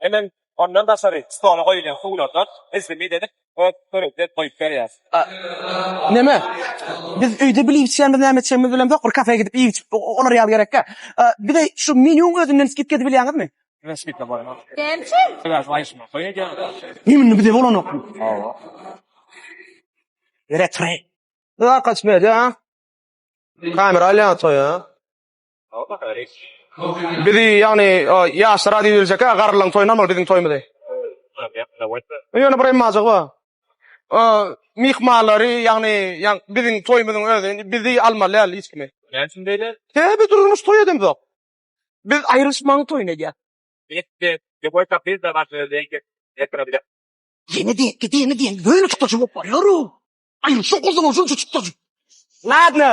Hemem ondan daşary stola goýulýan suwlardan izli-mit edip öz törüňde goýup berýär. Neme? Biz öýde bilip-içýänimiz näme-etjegimiz bilemzok, bir kafeýa gidip iýip-içip olar ýaly gerek-ä. Bize şu menýuň özünden skidka edip bilýäňizmi? Bize skidka bolanok. Näme üçin? Sebäbi baýyşmak goýy edýäňiz. Menýunda bize bolanokmy? Hawa. Ýöre tury. Zakaç berýär. Kamera alýar toýa. Bizi ýagny ýaşlara diýip biljek ha garrylaryň toýuna bolmaly biziň toýumyzy. Ýöne bir emmajagy bar. Myhmanlary ýagny biziň toýumyzyň özi bizi almaly däl hiç kimi. Näme üçin beýle? He biz durmuş toý edemzok. Biz aýrylyşmagyň toýuny edýäs. Ýene diýen, ýene diýen, ýöne çykdajy bolup barýar-ow. Aýrylyşyň gozalaw şunça çykdajy. Ladno.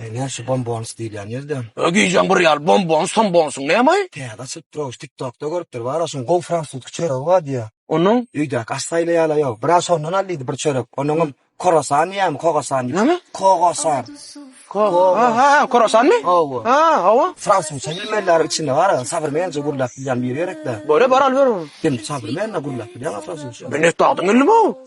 Eý näme şu bombons diýilýän ýerde? Öý gijäň bir ýaly bombons sombonsyň nämeý? Täze açyp dur şu tiktokda görüpdir bar a şuň gowy fransuzki çöregi bar diýýä. Onuň? Öýdäki aş saýlaýala ýok. Bir a şondan al diýdi bir çörek. Onuňam korosan diýýämi kogosan diýýä. Näme? Kogosan. Kogo. Ha ha korosanmy? Hawa. Ha hawa. Fransuzça bilmeliler içinde bar a sabrmenje gürläp bilýän biri gerekde. Bora bar al ber onu. Kim sabrmenle gürläp bilýän a fransuzça? Men etdi adyň ilmi?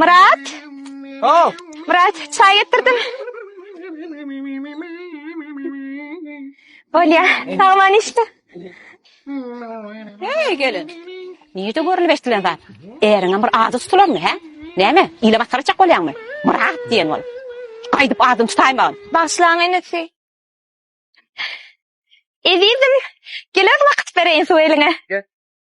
Myrat! Haw! Myrat, çaý getirdim. Olya, sagman işte. Hey gelin. Nirde görülip eşdilen zat? Äriňe bir ady tutulanmy, hä? Näme? Ile masgara çak bolýaňmy? Myrat diýen bol. Gaýdyp adyny tutaýmagyn. Bagşlaň enesi. Ezizim, geler wagt bereýin suw eliňe.